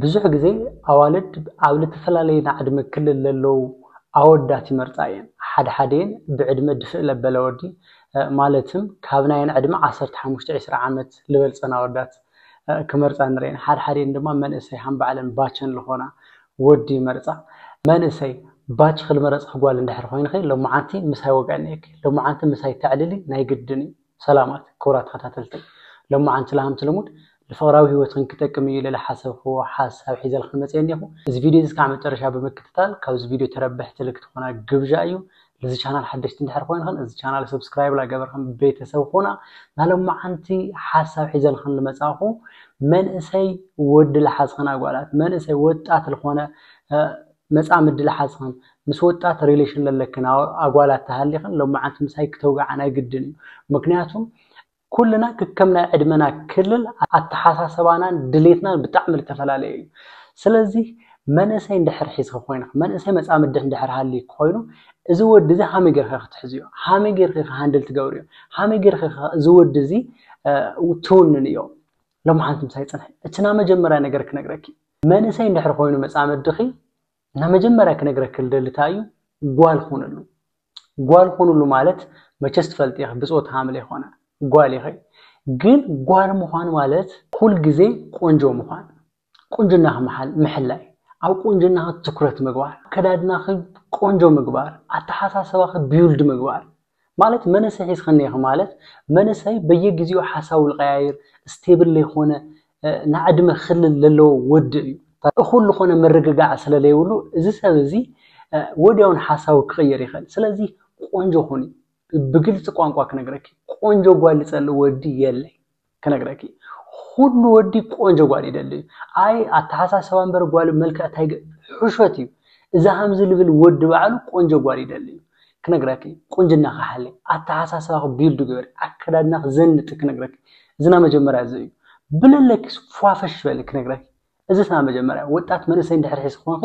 ብዙሕ ግዜ ኣዋልድ ኣብ ልተፈላለየ ናይ ዕድመ ክልል ለለዉ ኣወዳት ይመርጻ እየን። ሓደ ሓደየን ብዕድመ ድፍእ ለበለ ወዲ ማለትም ካብ ናየን ዕድመ ዓሰርተ ሓሙሽተ ዒስራ ዓመት ልበልጸን ኣወዳት ክመርጻ ንርእየን። ሓደ ሓደየን ድማ መንእሰይ ሃም ባዕለን ባቸን ልኾና ወዲ ይመርጻ። መንእሰይ፣ ባችኺ ልመረጽኺ ጓል እንድሕር ኾይንኺ፣ ሎምዓንቲ ምሳይ ወግዐ ነይርኪ፣ ሎምዓንቲ ምሳይ ተዕልሊ ናይ ግድን እዩ። ሰላማት ክቡራት ተኸታተልቲ ሎማዓንቲ ላሃምቲ ልሙድ ልፍቕራዊ ሂወትኽን ክጠቅም እዩ ልልሓሰብኽዎ ሓሳብ ሒዘልኽን መፅየ እኔኹ እዚ ቪድዮ እዚ ክዓ መጨረሻ ብምክትታል ካብዚ ቪድዮ ተረበሕቲ ልክትኾና ግብዣ እዩ ልዚ ቻናል ሓደሽቲ እንድሕር ኾይንኽን እዚ ቻናል ሰብስክራይብ ላገበርኽን ቤተሰብ ኹና ናሎማዓንቲ ሓሳብ ሒዘልኽን ልመፃእኹ መንእሰይ ወዲ ልሓዝኽን ኣጓላት መንእሰይ ወጣት ልኾነ መጻ ምድልሓስኽን ምስ ወጣት ሪለሽን ለለክን ኣጓላት ተሃሊኽን ሎማዓንቲ ምሳይ ክተውግዓ ናይ ግድን እዩ ምክንያቱም ኩልና ክከም ናይ ዕድመና ክልል ኣተሓሳሰባናን ድሌትናን ብጣዕሚ ልተፈላለየ እዩ ስለዚ መንእሰይ እንድሕር ሒዝኺ ኮይንኺ መንእሰይ መጻምድኪ እንድሕር ሃልይኪ ኮይኑ እዚ ወዲ እዚ ሃመይ ገይርኪ ኢኺ ትሕዝዮ ሃመይ ገይርኪ ኢኺ ሃንድል ትገብርዮ ሃመይ ገይርኪ ኢኺ እዚ ወዲ እዚ ትውንንዮ ሎማዓንቲ ምሳይ ጽንሒ እቲ ናመጀመርያ ነገር ክነግረኪ መንእሰይ እንድሕር ኮይኑ መጻምድኺ እና መጀመርያ ክነግረኪ ልደሊ ታይ እዩ ጓል ኹንሉ ጓል ኹንሉ ማለት መቸስ ትፈልጢ ኢኺ ብጾት ሃምል ኣይኮነ ጓል ኢኺ ግን ጓል ምዃን ማለት ኩል ግዜ ቆንጆ ምዃን ቁንጅናኺ ምሕላይ ኣብ ቁንጅናኺ ትኩረት ምግባር ኣከዳድናኺ ቆንጆ ምግባር ኣተሓሳስባኺ ቢውልድ ምግባር ማለት መንእሰይ ሒዝካ እኒሀኺ ማለት መንእሰይ በየግዜኡ ሓሳቡ ዝቐያይር ስቴብል ዘይኮነ ናይ ዕድመ ክልል ዘለዎ ወዲ እዩ። እኹል ዝኾነ ምርግጋዕ ስለ ዘይብሉ እዚ ሰብ እዚ ወዲያውን ሓሳቡ ክቕይር ይኽእል። ስለዚ ቆንጆ ኩኒ። ብግልፂ ቋንቋ ክነግረኪ ቆንጆ ጓል ዝፀልእ ወዲ የለይ። ክነግረኪ ኩሉ ወዲ ቆንጆ ጓል ይደሊ እዩ ኣይ ኣተሓሳሰባ እምበር ጓል መልክዕ ታይ ሕሾት እዩ እዚ ሃምዚ ልብል ወዲ ባዕሉ ቆንጆ ጓል ይደሊ እዩ ክነግረኪ ቁንጅና ክሓሊ ኣተሓሳሰባኺ ቢልዱ ግበሪ ኣከዳድናኺ ዘንጢ ክነግረኪ እዚ ናይ መጀመርያ እዚ እዩ ብለለኪ ፏፈሽ በሊ ክነግረኪ እዚ ናይ መጀመርያ ወጣት መንእሰይ እንድሕር ሒዝኪ ኮንኪ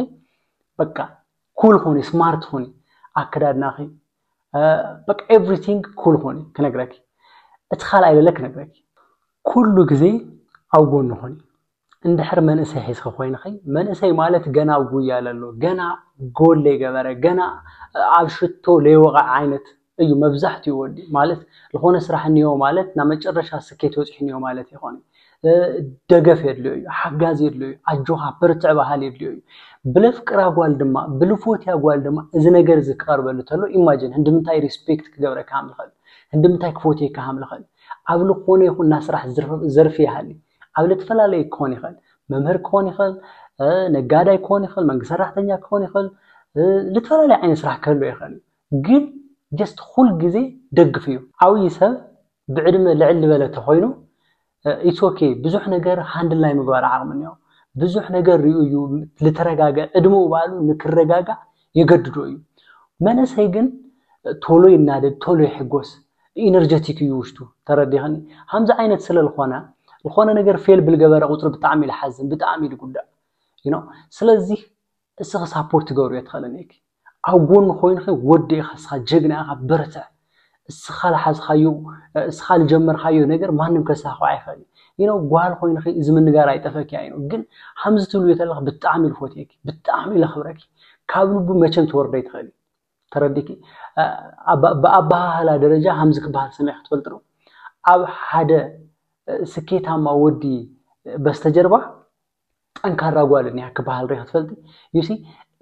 በቃ ኩል ኹኒ ስማርት ኹኒ ኣከዳድናኺ በቃ ኤቭሪቲንግ ኩል ኾኒ ክነግረኪ እቲ ካልኣይ ለለ ክነግረኪ ኩሉ ግዜ ኣብ ጎኒ ኾኒ እንድሕር መንእሰይ ሒዝኺ ኮይንኺ መንእሰይ ማለት ገና ኣብ ጉያ ለሎ ገና ጎል ለይገበረ ገና ኣብ ሽቶ ለይወቐዐ ዓይነት እዩ መብዛሕትኡ ወዲ ማለት ዝኾነ ስራሕ እኒኦ ማለት ናብ መጨረሻ ስኬት በፂሑ እኒኦ ማለት ይኾን ደገፍ የድልዮ እዩ፣ ሓጋዚ የድልዮ እዩ፣ ኣጆኻ በርትዕ በሃሊ የድልዮ እዩ። ብለፍቅራ ጓል ድማ ብልፎትያ ጓል ድማ እዚ ነገር እዚ ክቐርበሉ ተሎ ኢማጅን ህንድምንታይ ሪስፔክት ክገብረካ ሃም ልኸል ህንድምንታይ ክፎትየካ ሃም ልኸል ኣብ ልኾነ ይኹን ናይ ስራሕ ዘርፊ ይሃሊ ኣብ ለትፈላለየ ክኾን ይኸል መምህር ክኾን ይኸል ነጋዳይ ክኾን ይኸል መንግስት ሰራሕተኛ ክኾን ይኸል ልትፈላለየ ዓይነት ስራሕ ክህሎ ይኸል ግን ጀስት ኩል ግዜ ደግፍ እዩ ዓብይ ሰብ ብዕድመ ልዕል ልበለ ተኾይኑ ኢትስ ኦኬ ብዙሕ ነገር ሃንድል ናይ ምግባር ዓቕሚ እኒኦ ብዙሕ ነገር ሪኡ እዩ ልተረጋገ ዕድመኡ ባዕሉ ንክረጋጋእ የገድዶ እዩ መነሰይ ግን ቶሎ ይናደድ ቶሎ ይሕጎስ ኢነርጀቲክ እዩ ውሽጡ ተረዲኽኒ ሃምዚ ዓይነት ስለ ልኾነ ዝኾነ ነገር ፌል ብልገበረ ቁፅሪ ብጣዕሚ ልሓዝን ብጣዕሚ ልጉዳእ ዩ ስለዚህ እስኺ ሳፖርት ትገብርዮ ትኽእልን ኢኪ ኣብ ጎኑ ኮይንኺ ወዲ ኢኻ እስኻ ጀግና ኢኻ በርትዕ እስኻ ልሓዝኻዮ እስኻ ልጀመርካዮ ነገር ማንም ከሳኽዖ ኣይኽእል እዩ ዩኖ ጓል ኮይንኺ እዚ ምንጋር ኣይጠፈኪ ኣይኖ ግን ሃምዚ ትብልዮ ተለኺ ብጣዕሚ ልፎትየኪ ብጣዕሚ ለኽብረኪ ካብ ልቡ መቸም ትወርዶ ኣይትኽእሊ ተረዲኪ ብኣበሃህላ ደረጃ ሃምዚ ክበሃል ሰሚዕኺ ትፈልጢ ዶ ኣብ ሓደ ስኬታማ ወዲ በስተጀርባ ጠንካራ ጓል እኒኣ ክበሃል ሪኢኺ ትፈልጢ? ዩ ሲ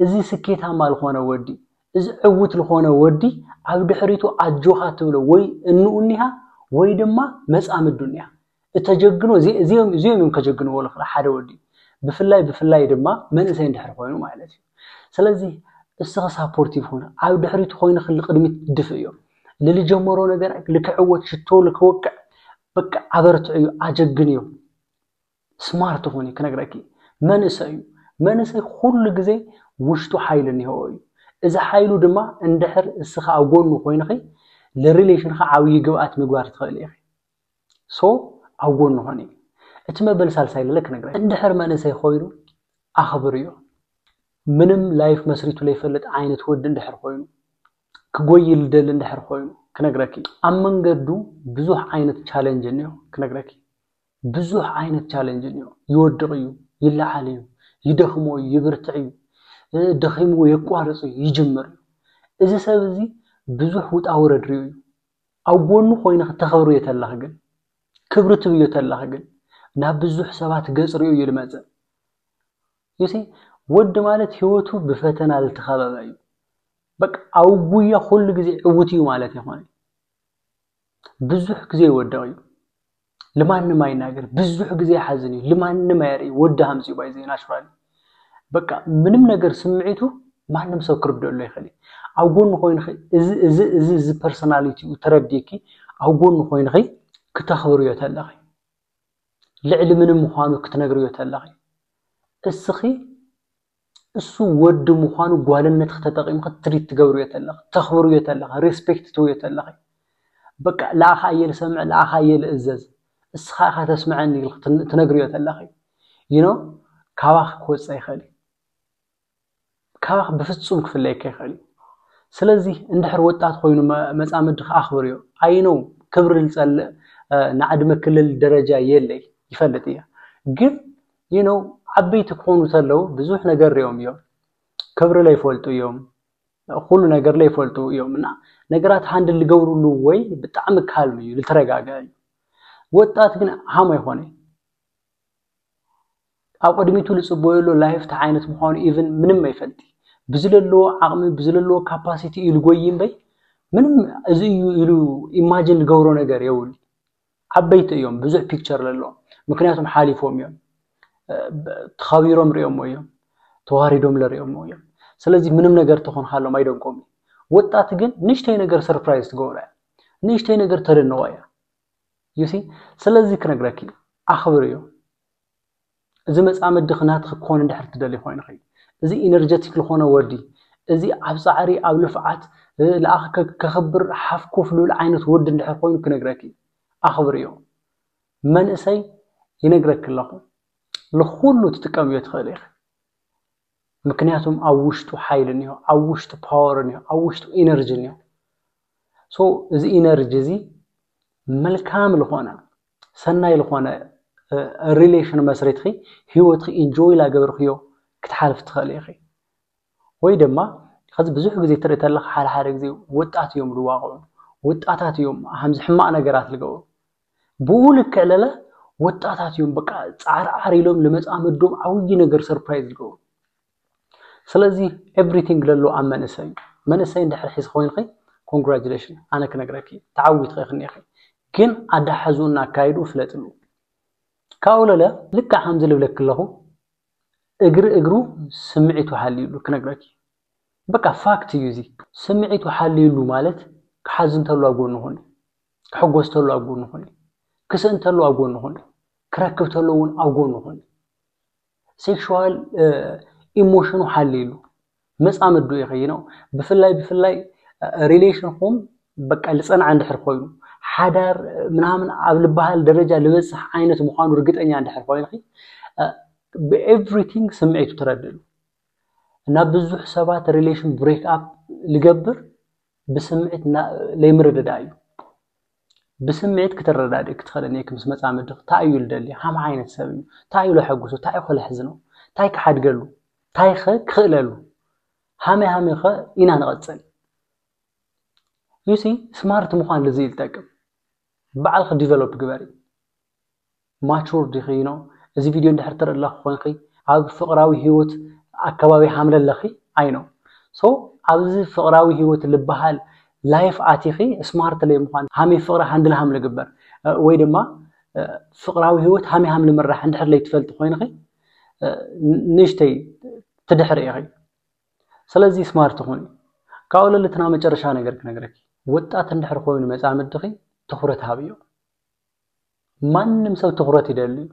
እዚ ስኬታማ ዝኾነ ወዲ እዚ ዕውት ልኾነ ወዲ ኣብ ድሕሪቱ ኣጆኻ ትብሎ ወይ እንኡ እኒሃ ወይ ድማ መፃምዱ እኒኣ እተጀግኖ እዚኦም እዮም ከጀግንዎ ልኽእሉ ሓደ ወዲ ብፍላይ ብፍላይ ድማ መንእሰይ እንድሕር ኮይኑ ማለት እዩ ስለዚ እስኺ ሳፖርቲቭ ኹን ኣብ ድሕሪቱ ኮይንኺ ልቅድሚት ድፍእዮ ልልጀመሮ ነገር ልክዕወት ሽቶ ልክወቅዕ በቃ ኣበርትዕዮ ኣጀግንዮ ስማርት ኹኒ ክነግረኪ መንእሰይ እዩ መንእሰይ ኩሉ ግዜ ውሽጡ ሓይሊ እኒሀዎ እዩ እዚ ሓይሉ ድማ እንድሕር እስኻ ኣብ ጎኑ ኮይንኺ ንሪሌሽንኻ ዓብዪ ግብኣት ምግባር ትኽእል ኢኺ ሶ ኣብ ጎኑ ኾኒ እቲ መበል ሳልሳይ ለለ ክነግረ እንድሕር መንእሰይ ኮይኑ ኣኽብርዮ ምንም ላይፍ መስሪቱ ለይፈልጥ ዓይነት ወዲ እንድሕር ኮይኑ ክጎይ ልደሊ እንድሕር ኮይኑ ክነግረኪ ኣብ መንገዱ ብዙሕ ዓይነት ቻለንጅ እኒኦ ክነግረኪ ብዙሕ ዓይነት ቻለንጅ እኒኦ። ይወድቕ እዩ፣ ይለዓል እዩ፣ ይደኽሞ እዩ፣ ይብርትዕ እዩ፣ ደኺምዎ የቋርፅ እዩ፣ ይጅምር እዩ። እዚ ሰብ እዚ ብዙሕ ውጣ ውረድ ሪኡ እዩ። ኣብ ጎኑ ኮይንኺ ተኽብርዮ ተለኺ ግን፣ ክብሪ ትብዮ ተለኺ ግን፣ ናብ ብዙሕ ሰባት ገፅ ሪኡ እዩ ልመፅእ። ዩሲ ወዲ ማለት ህይወቱ ብፈተና ልተኸበበ እዩ። በቃ ኣብ ጉያ ኩሉ ግዜ ዕውት እዩ ማለት ኣይኮነን። ብዙሕ ግዜ ይወድቕ እዩ ልማንም ኣይናገር ብዙሕ ግዜ ይሓዝን እዩ ልማንም ኣየርኢ ወዲ ሃምፂ ባይ ዘይ ናሽራል በቃ ምንም ነገር ስምዒቱ ማንም ሰብ ክርድአሉ ይኽእል ኣብ ጎኑ ኮይንኺ እዚ እዚ እዚ እዚ ፐርሶናሊቲኡ ተረዲእኪ ኣብ ጎኑ ኮይንኺ ክተኽብርዮ ተለኺ ልዕሊ ምንም ምዃኑ ክትነግርዮ ተለኺ እስኺ እሱ ወዲ ምዃኑ ጓልነትኺ ተጠቂምኺ ትሪት ትገብርዮ ተለኺ፣ ተኽብርዮ ተለኺ፣ ሬስፔክት ትህብዮ ተለኺ፣ በቃ ልኣኻ እየ ልሰምዕ ልኣኻ እየ ልእዘዝ እስኻ ኢኻ ተስመዐኒ ኢልኺ ትነግርዮ ተለኺ you know ካባኺ ክወፅእ ኣይኽእል እዩ። ካባኺ ብፍፁም ክፍለየኪ ኣይኽእል እዩ። ስለዚ እንድሕር ወጣት ኮይኑ መፃምድኺ ኣኽብርዮ። I know ክብሪ ልፀልእ ናይ ዕድመ ክልል ደረጃ የለይ ይፈልጥ እየ ግን you know ዓበይቲ ክኾኑ ተለው ብዙሕ ነገር ሪኦም እዮም ክብሪ ለይፈልጡ እዮም ኩሉ ነገር ለይፈልጡ እዮም እና ነገራት ሃንድል ልገብርሉ ወይ ብጣዕሚ ካልም እዩ ልተረጋግዐ እዩ ወጣት ግን ሃም ኣይኮነ ኣብ ቅድሚቱ ልፅበዮ ኣሎ ላይፍ ታይ ዓይነት ምዃኑ ኢቭን ምንም ኣይፈልጥ ብዝለለዎ ዓቕሚ ብዝለለዎ ካፓሲቲ እዩ ልጎይ እምበይ ምንም እዚ እዩ ኢሉ ኢማጂን ልገብሮ ነገር የውል ዓበይቲ እዮም ብዙሕ ፒክቸር ለለዎም ምክንያቱም ሓሊፎም እዮም ተኸቢሮም ሪኦሞ እዮም ተዋሪዶም ለሪኦሞ እዮም ስለዚ ምንም ነገር ተኾንካሎም ኣይደንቆም እዩ ወጣት ግን ንእሽተይ ነገር ሰርፕራይዝ ትገብሮ እያ ንእሽተይ ነገር ተደንቆ እያ ዩሲ ስለዚ ክነግረኪ ኣኽብር እዩ እዚ መጻምድኺ ናትኺ ክኾን እንድሕር ትደልይ ኮይንኺ እዚ ኢነርጀቲክ ልኾነ ወዲ እዚ ኣብ ጻዕሪ ኣብ ልፍዓት ልኣኺ ከኽብር ሓፍ ኮፍ ልብል ዓይነት ወዲ እንድሕር ኮይኑ ክነግረኪ ኣኽብርዮ መንእሰይ ይነግረኪ ኣለኹ ልኹሉ ትጥቀምዮ ትኽእሊ ኢኺ ምክንያቱም ኣብ ውሽጡ ሓይሊ እኒኦ፣ ኣብ ውሽጡ ፓወር እኒኦ፣ ኣብ ውሽጡ ኢነርጂ እኒኦ። ሶ እዚ ኢነርጂ እዚ መልካም ዝኾነ ሰናይ ዝኾነ ሪሌሽን መስሪትኺ ህይወትኺ ኢንጆይ ላገበርክዮ ክትሓልፍ ትኽእል ኢኺ። ወይ ድማ ከዚ ብዙሕ ግዜ ትርኢ ተለኻ ሓደ ሓደ ግዜ ወጣት እዮም ዝዋቕዑ፣ ወጣታት እዮም ሃምዚ ሕማቕ ነገራት ዝገብሩ። ብኡ ልክዕ ለለ ወጣታት እዮም በቃ ጻዕር ዓር ኢሎም ንመጻምዶም ዓብይ ነገር ሰርፕራይዝ ዝገብሩ ስለዚ ኤቭሪቲንግ ለሎ ኣብ መንእሰይ እዩ መንእሰይ እንድሕር ሒዝ ኮይንኺ ኮንግራጁሌሽን ኣነ ክነግረኪ ተዓዊትኺ ክንኢኺ ግን ኣዳሓዙኡና ኣካይዱ ፍለጥሉ ካብኡ ለለ ልክዕ ከምዚ ልብለኪ ኣለኹ እግሪ እግሩ ስምዒቱ ሃልዩሉ ክነግረኪ በቃ ፋክት እዩ እዚ ስምዒቱ ሓልዩሉ ማለት ክሓዝን ተሎ ኣብ ጎኑ ኩን ክሕጎስ ተሎ ኣብ ጎኑ ኩን ክስእን ተሎ ኣብ ጎኑ ኩን ክረክብ ተሎ እውን ኣብ ጎኑ ኩን ሴክሹዋል ኢሞሽኑ ሓልዩሉ መጻምዱ ይኸይ ነው ብፍላይ ብፍላይ ሪሌሽንኹም በቃ ልጸንዓ እንድሕር ኮይኑ ሓዳር ምናምን ኣብ ልበሃል ደረጃ ልበጽሕ ዓይነት ምዃኑ ርግጠኛ እንድሕር ኮይንኺ ብኤቭሪቲንግ ስምዒቱ ትረድእሉ እና ብዙሕ ሰባት ሪሌሽን ብሬክ ኣፕ ልገብር ብስምዒት ለይምርድዳእ እዩ ብስምዒት ክትረዳድእ ክትኽእል እኒአኪ ምስ መፃምዲ እንታይ እዩ ልደሊ ሃም ዓይነት ሰብ እዩ እንታይ እዩ ለሐጉሱ እንታይ እዩ ከለሕዝኖ እንታይ ክሓድገሉ እንታይ ኸ ክኽእለሉ ሃመይ ሃመይ ኸ ኢና ንቐፅል ዩሲ ስማርት ምዃን ልዚ ይጠቅም ባዕልኺ ዲቨሎፕ ግበሪ ማቹር ዲኺ ን እዚ ቪድዮ እንድሕር ትርእለኺ ኮንኺ ኣብ ፍቅራዊ ሂወት ኣከባቢ ሃምለ ኣለኺ ኣይ ኖው ሶ ኣብዚ ፍቅራዊ ሂወት ልባሃል ላይፍ ኣቲኺ ስማርት ለይ ምዃን ሃመይ ፍቅሪ ሃንድል ሃም ልግበር ወይ ድማ ፍቅራዊ ሂወት ሃመይ ሃም ልምራሕ እንድሕር ለይ ትፈልጢ ኮይንኺ ንእሽተይ ትድሕሪ ኢኺ ስለዚ ስማርት ኹኒ ካብኡ ለሊ እቲ ናይ መጨረሻ ነገር ክነግረኪ ወጣት እንድሕር ኮይኑ መጻምድኺ ትኹረት ሃብዮ። ማንም ሰብ ትኹረት ይደሊ እዩ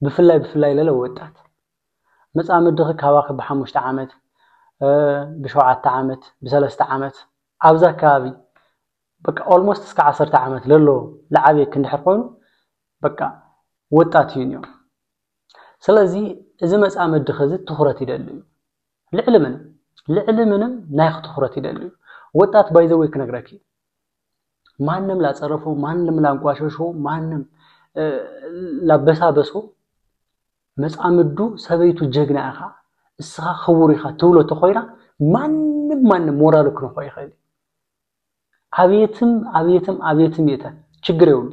ብፍላይ ብፍላይ ለለ ወጣት መጻምድኺ ካባኺ ብሓሙሽተ ዓመት ብሸውዓተ ዓመት ብሰለስተ ዓመት ኣብዛ ኣከባቢ በቃ ኦልሞስት እስከ ዓሰርተ ዓመት ለሎ ልዓብየክ እንድሕር ኮይኑ በቃ ወጣት እዩ እኒኦ ስለዚ እዚ መፃመድኺ እዚ ትኹረት ይደሊ እዩ ልዕሊ ምንም ልዕሊ ምንም ናይኽ ትኹረት ይደሊ እዩ ወጣት ባይዘወይ ክነግረኪ ማንም ላጸረፈው፣ ማንም ላንቋሸሸው፣ ማንም ላበሳበሶ መጻምዱ ሰበይቱ ጀግና ኢኻ እስኻ ክቡር ኢኻ ትብሎ ተኾይና ማንም ማንም ሞራሉ ክንኾ ይኽእል ኣብየትም ኣብየትም ኣብየትም የተ ችግር የብሉ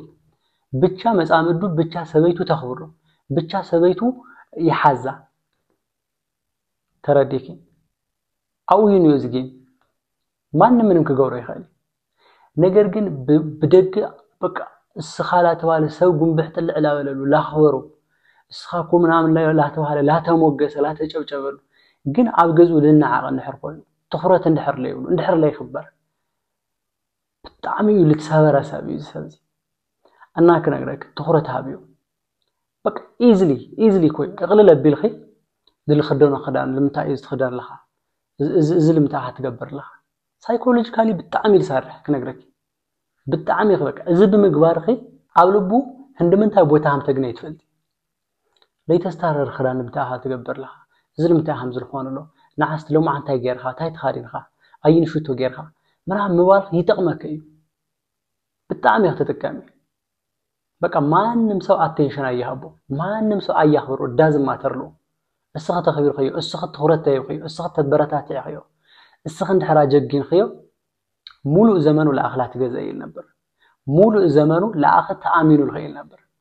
ብቻ መጻምዱ ብቻ ሰበይቱ ተኽብሮ ብቻ ሰበይቱ ይሓዛ ተረዲኪ ኣብኡዩን እዩ ዝጊን ማንም ምንም ክገብሮ ይኽእል ነገር ግን ብደገ በቃ እስኻ ላተባለ ሰብ ጉንብሕ ጥልዕ ላበለሉ ላኽበሩ እስኻ እኮ ምናምን ላተባለ ላተሞገሰ ላተጨብጨበሉ ግን ኣብ ገዝኡ ልናዓቐ እንድሕር ኮይኑ ትኹረት እንድሕር ለይብሉ እንድሕር ለይኽበር ብጣዕሚ እዩ ልትሰበረ ሰብ እዩ ዝሰብዚ እና ክነግረክ ትኩረት ሃብዮ በቃ ኢዝሊ ኢዝሊ ኮይ እቅልል ኣቢልኺ ንልክደኖ ክዳን ልምንታይ እዩ ዝትክደን ኣለካ እዚ ልምንታይ እካ ትገብር ኣለካ ሳይኮሎጂካሊ ብጣዕሚ እዩ ዝሰርሕ ክነግረኪ ብጣዕሚ እዩ በቃ እዚ ብምግባርኺ ኣብ ልቡ ህንዲ ምንታይ ቦታ ከም ተግነይ ትፈልጢ ለይተስታርር ክዳን ንምታይ ኢካ ትገብር ኣለካ እዚ ንምታይ ኢካ ከምዚ ትኮን ዘሎ ንዓስቲ ሎምዓንቲ ታይ ገይርካ ታይ ተከዲንካ ኣይኒ ሽቶ ገይርካ ምናምን ምባል ይጠቅመኪ እዩ ብጣዕሚ ኢኪ ትጥቀሚ በቃ ማንም ሰብ ኣቴንሽን ኣይሃቦ ማንም ሰብ ኣያክብሮ ዳዝ ማተርሎ እስኺ ተኽቢርክዮ እስኺ ትኹረት ተሂብክዮ እስኺ ተበረታትዕክዮ እስኺ እንድሕር ኣጀጊንክዮ ሙሉእ ዘመኑ ለኣኽ ላትገዘ ይል ነበር ሙሉእ ዘመኑ ለኣኽ ተኣሚኑ ልኽእል ነበር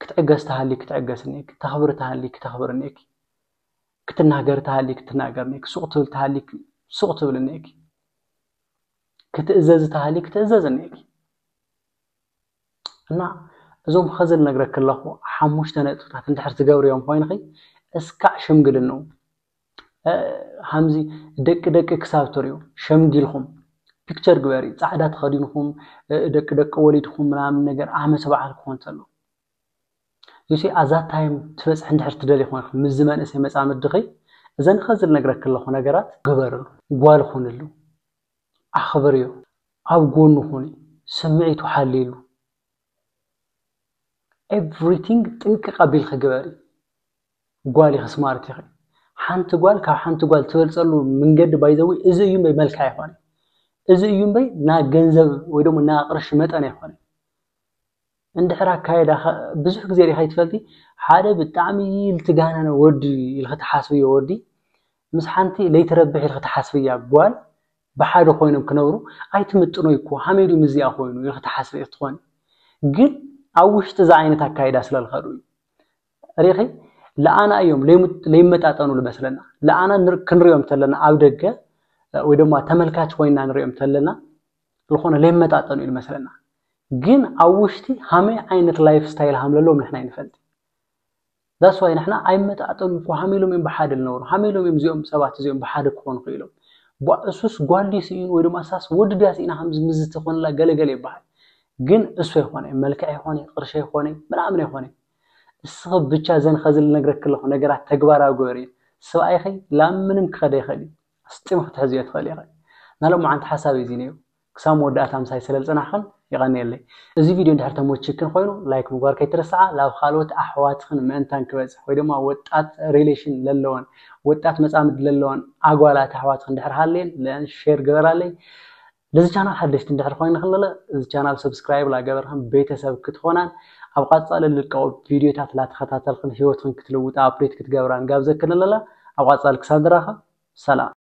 ክትዕገስ ተሃልዩ ክትዕገስ እኒኤኪ፣ ክተኽብሪ ተሃልዩ ክተኽብሪ እኒኤኪ፣ ክትናገሪ ተሃልዩ ክትናገሪ እኒኤኪ፣ ሱቕ ክትብሊ ተሃልዩ ሱቕ ክትብሊ እኒኤኪ፣ ክትእዘዚ ተሃልዩ ክትእዘዚ እኒኤኪ። እና እዞም ኸዚ ልነግረኪ ኣለኹ ሓሙሽተ ነጥብታት እንድሕር ትገብርዮም ኮይንኺ እስካዕ ሽምግልንኡ ሃምዚ ደቂ ደቂ ክሳብ ትሪኡ ሸምጊልኩም ፒክቸር ግበሪ ጻዕዳ ተኸዲንኩም ደቂ ደቂ ወሊድኩም ምናምን ነገር ዓመት በዓል ክኾን ተሎ ዩሲ ኣዛ ታይም ትበጽሕ እንድሕር ትደሊ ኮንክ ምዚ መንእሰይ መጻምድኺ እዘን ኸዚ ልነግረክ ኣለኹ ነገራት ግበርሉ ጓል ኹንሉ ኣኽብርዮ ኣብ ጎኑ ኹኒ ስምዒቱ ሓልይሉ ኤቭሪቲንግ ጥንቅቕ ኣቢልኺ ግበሪ ጓል ኢኺ ስማርት ኢኺ ሓንቲ ጓል ካብ ሓንቲ ጓል ትበልፀሉ መንገዲ ባይዘዊ እዚ እዩ እምበይ መልክዕ ኣይኮነን እዚ እዩ እምበይ ና ገንዘብ ወይ ደሞ ና ቅርሺ መጠን ኣይኮነን እንድሕር ኣካየዳ ብዙሕ ግዜ ሪኢኻ ይትፈልቲ ሓደ ብጣዕሚ ልትጋነነ ወዲ ኢልኺ ትሓስብዮ ወዲ ምስ ሓንቲ ለይትረብሕ ኢልኺ ትሓስብያ ጓል ብሓደ ኮይኖም ክነብሩ ኣይትምጥኖ እኮ ሃመይ ድዩ ምዚኣ ኮይኑ ኢልኺ ትሓስቢ ኢኺ ትኾኒ ግን ኣብ ውሽጢ እዚ ዓይነት ኣካይዳ ስለልኸዱ እዩ ሪኺ ልኣና እዮም ለይመጣጠኑ ልመስለና ልኣና ክንሪኦም ተለና ኣብ ደገ ወይ ድማ ተመልካች ኮይና ንሪኦም ተለና ዝኾነ ለይመጣጠኑ እዩ ልመስለና ግን ኣብ ውሽጢ ሃመይ ዓይነት ላይፍ ስታይል ሃምለለዎም ንሕና ይንፈልጥ ዛስዋይ ንሕና ኣይመጣጠኑ እኮ ሃሚሎም እዮም ብሓደ ልነብሩ ሃሚሎም እዮም እዚኦም ሰባት እዚኦም ብሓደ ክኾኑ ክኢሎም እሱስ ጓልዲ ስኢኑ ወይ ድማ እሳስ ወዲ ድያ ስኢና ከምዚ ምዝቲ ኮንላ ገለገለ ይበሃል ግን እሱ ኣይኮነ መልክዕ ኣይኮነ ቅርሺ ኣይኮነ ምናምን ኣይኮነ እስኺ ብቻ እዘን ኸዚ ልነግረኪ ለኹ ነገራት ተግባራዊ ግበርየን ሰብኣይኺ ላብ ምንም ክኸድ ኣይኽእል እዩ ኣስጢሙ ክትሕዝዮ ትኽእሊ ኢኺ ናሎማዓንቲ ሓሳብ እዩ እዚ ነይሩ ክሳብ መወዳእታ ምሳይ ሰለልፀናሕኽን የቐንየለይ እዚ ቪድዮ እንድሕር ተሞቺክን ኾይኑ ላይክ ምግባር ከይትረስዓ ላብ ኻልኦት ኣሕዋትኽን ምእንታን ክበፅሕ ወይ ድማ ወጣት ሪሌሽን ለለወን ወጣት መፃምድ ለለወን ኣጓላት ኣሕዋትኽን እንድሕር ሃልየን ልኣን ሼር ግበራለይ ለዚ ቻናል ሓደሽቲ እንድሕር ኮይንክን ለለ እዚ ቻናል ሰብስክራይብ ላገበርክን ቤተሰብ ክትኾናን ኣብ ቓፃሊ ልልቀቁ ቪድዮታት ላተኸታተልክን ህይወትክን ክትልውጣ ኣፕዴት ክትገብራን ጋብዘክን ለለ ኣብ ቓፃሊ ክሳብ ንራኸብ ሰላም።